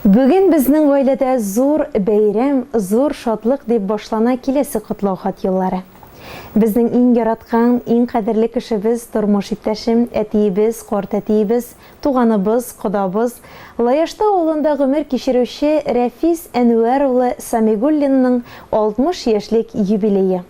Бүген безнең гаиләдә зур бәйрәм, зур шатлык, дип башлана киләсе котлау хат юллары. Безнең иң яраткан, иң кадерле кешебез, тормыш иптәшем, әтиебез, картәтиебез, туганыбыз, кодабыз, Лаяштау авылында гомер кичерүче Рәфис Әнвәр улы Самигуллинның 60 яшьлек юбилее.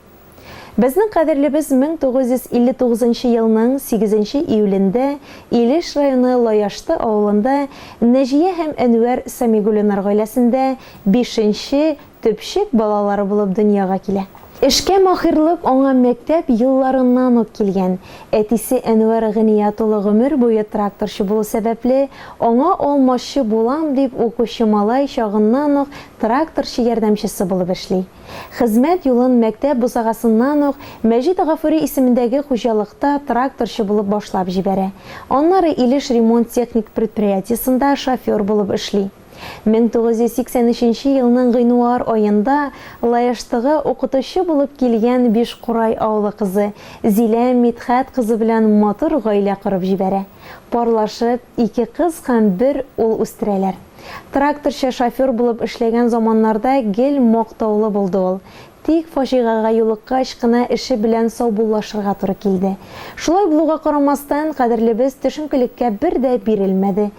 Безнең кадерлебез 1959 елның 8 нче июлендә Илеш районы Лаяшты авылында Нәҗия һәм Әнвәр Сәмигуллинар гаиләсендә бишенче төпчек балалары булып дөньяга килә. Эшкә маһирлык аңа мәктәп елларыннан ук килгән. Әтисе Әнвәр Гыният улы гомер буе тракторчы булу сәбәпле, аңа алмачы булам дип укучы малай чагыннан ук тракторчы ярдәмчесе булып эшли. Хезмәт юлын мәктәп бусагасыннан ук Мәҗит Гафури исемендәге хуҗалыкта тракторчы булып башлап җибәрә. Аннары Илеш ремонт-техник предприятиесында шофер булып эшли. 1983 елның гыйнуар аенда Лаештыга укытучы булып килгән Бишкурай авылы кызы Зилә Мидхәт кызы белән матур гаилә корып җибәрә. Парлашып, ике кыз һәм бер ул үстерәләр. Тракторчы, шофер булып эшләгән заманнарда гел мактаулы булды ул. Тик фаҗигагә юлыккач кына эше белән саубуллашырга туры килде. Шулай булуга карамастан, кадерлебез төшенкелеккә бер дә бирелмәде.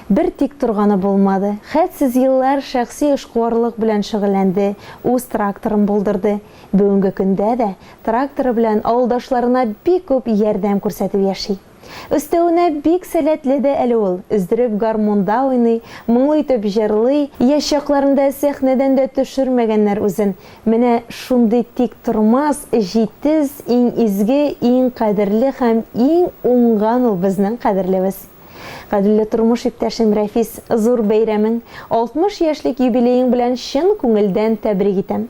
Бер тик торганы булмады. Хәтсез еллар шәхси эшкуарлык белән шөгыльләнде, үз тракторын булдырды. Бүгенге көндә дә тракторы белән авылдашларына бик күп ярдәм күрсәтеп яши. Өстәвенә, бик сәләтле дә әле ул, өздереп гармунда уйный, моңлы итеп җырлый. Яшь чакларында сәхнәдән дә төшермәгәннәр үзен. Менә шундый тиктормас, җитез, иң изге, иң кадерле һәм иң уңган ул безнең кадерлебез. Кадерле тормыш иптәшем Рәфис, зур бәйрәмең, 60 яшьлек юбилеең белән чын күңелдән тәбрик итәм.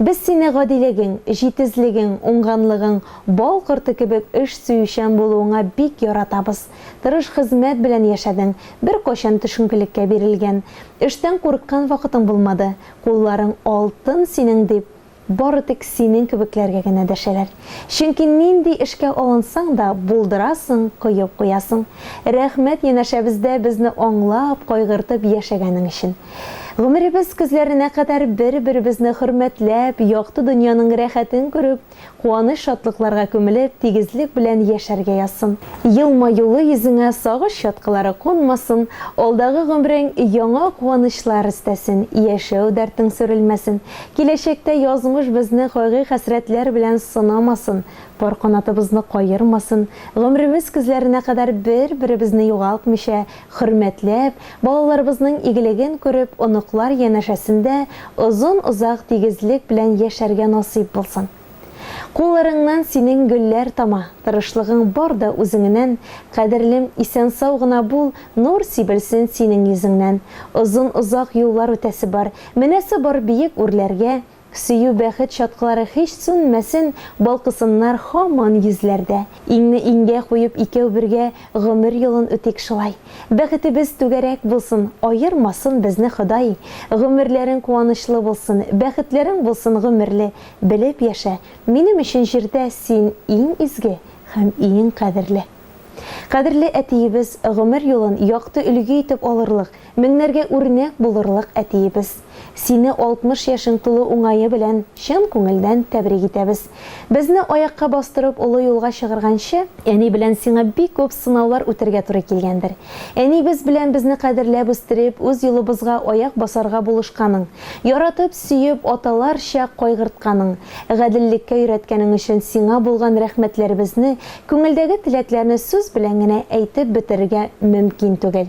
Без сине гадилегең, җитезлегең, уңганлыгың, бал корты кебек эш сөючән булуыңа бик яратабыз. Тырыш хезмәт белән яшәдең, беркайчан төшенкелеккә бирелгән, эштән курыккан вакытың булмады. Кулларың алтын синең, дип, бары тик синең кебекләргә генә дәшәләр. Чөнки нинди эшкә алынсаң да, булдырасың, коеп куясың. Рәхмәт янәшәбездә безне аңлап, кайгыртып яшәгәнең өчен. Гомеребез көзләренә кадәр бер-беребезне хөрмәтләп, якты дөньяның рәхәтен күреп, куаныч-шатлыкларга күмелеп, тигезлек белән яшәргә язсын. Елмаюлы йөзеңә сагыш чаткылары кунмасын, алдагы гомерең яңа куанычлар өстәсен, яшәү дәртең сүрелмәсен, киләчәктә язмыш безне кайгы-хәсрәтләр белән сынамасын, пар канатыбызны каермасын, гомеребез көзләренә кадәр бер-беребезне югалтмыйча, Хөрмәтләп, балаларыбызның игелеген күреп, оныклар янәшәсендә озын-озак тигезлек белән яшәргә насыйп булсын. Кулларыңнан синең гөлләр тама, тырышлыгың бар да үзеңенән, кадерлем, исән-сау гына бул, нур сибелсен синең йөзеңнән. Озын-озак юллар үтәсе бар, менәсе бар биек үрләргә, Сөю бәхет чаткылары һич сүнмәсен Балкысыннар һаман йөзләрдә Иңне иңгә куеп икәү бергә Гомер юлын үтик шулай Бәхетебез түгәрәк булсын Аермасын безне Ходай Гомерләрең куанычлы булсын Бәхетләрең булсын гомерле Белеп яшә, минем өчен җирдә Син иң изге һәм иң кадерле. Кадерле әтиебез, гомер юлын якты өлге итеп алырлык, меңнәргә үрнәк булырлык әтиебез! Сине 60 яшең тулу уңае белән чын күңелдән тәбрик итәбез! Безне аякка бастырып олы юлга чыгарганчы, әни белән сиңа бик күп сынаулар үтәргә туры килгәндер. Әнибез белән безне кадерләп үстереп, үз юлыбызга аяк басарга булышканың, яратып, сөеп, аталарча кайгыртканың, гаделлеккә өйрәткәнең өчен сиңа булган рәхмәтләребезне Күңелдәге теләкләрне сүз белән генә әйтеп бетерергә мөмкин түгел.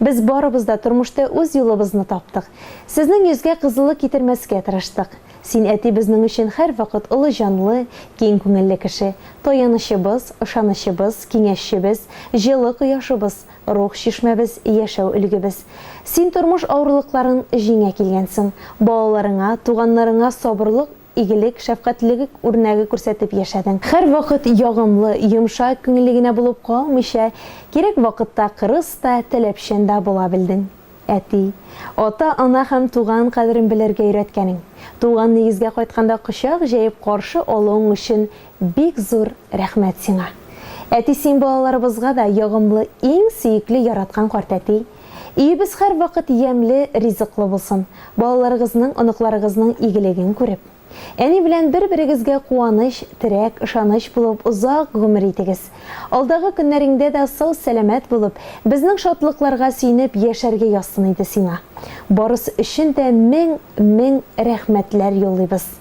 Без барыбыз да тормышта үз юлыбызны таптык. Сезнең йөзгә кызыллык китермәскә тырыштык. Син, әти, безнең өчен һәрвакыт олы җанлы, киң күңелле кеше, таянычыбыз, ышанычыбыз, киңәшчебез, җылы кояшыбыз, рух чишмәбез, яшәү өлгебез. Син тормыш авырлыкларын җиңә килгәнсең. Балаларыңа, туганнарыңа сабырлык, игелек, шәфкатьлелек үрнәге күрсәтеп яшәдең. Һәрвакыт ягымлы, йомшак күңелле генә булып калмыйча, кирәк вакытта кырыс та, таләпчән дә була белдең. Әти, ата-ана һәм туган кадерен белергә өйрәткәнең, туган нигезгә кайтканда кочак җәеп каршы алуың өчен бик зур рәхмәт сиңа. Әти син балаларыбызга да ягымлы, иң сөекле яраткан картәти. Өебез һәрвакыт ямьле, ризыклы булсын, балаларыгызның, оныкларыгызның игелеген күреп, әни белән бер-берегезгә куаныч, терәк, ышаныч булып озак гомер итегез. Алдагы көннәреңдә дә сау-сәламәт булып, безнең шатлыкларга сөенеп яшәргә язсын иде сиңа. Барысы өчен дә мең, мең рәхмәтләр юллыйбыз.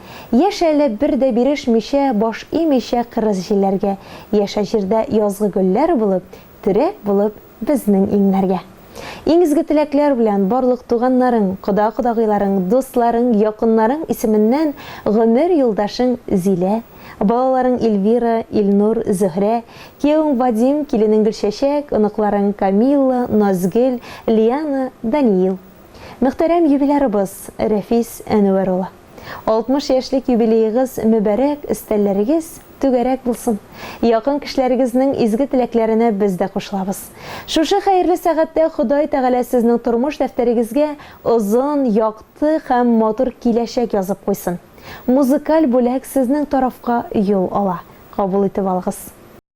Яшь әле бер дә бирешмичә, баш имичә кырыс җилләргә, Яшә җирдә язгы гөлләр булып, Терәк булып безнең иңнәргә. Иң изге теләкләр белән барлык туганнарың, кода-кодагыйларың, дусларың, якыннарың исеменнән гомер юлдашың Зилә, балаларың Ильвира, Илнур, Зөһрә, киявең Вадим, киленең Гөлчәчәк, оныкларың Камилла, Назгөл, Лиана, Даниил. Мөхтәрәм юбилярыбыз Рәфис Әнүәр улы. 60 яшьлек юбилеегыз мөбарәк, өстәлләрегез түгәрәк булсын! Якын кешеләрегезнең изге теләкләренә без дә кушылабыз. Шушы хәерле сәгатьтә Ходай Тәгалә сезнең тормыш дәфтәрегезгә озын, якты һәм матур киләчәк язып куйсын! Музыкаль бүләк сезнең тарафка юл ала. Кабул итеп алыгыз!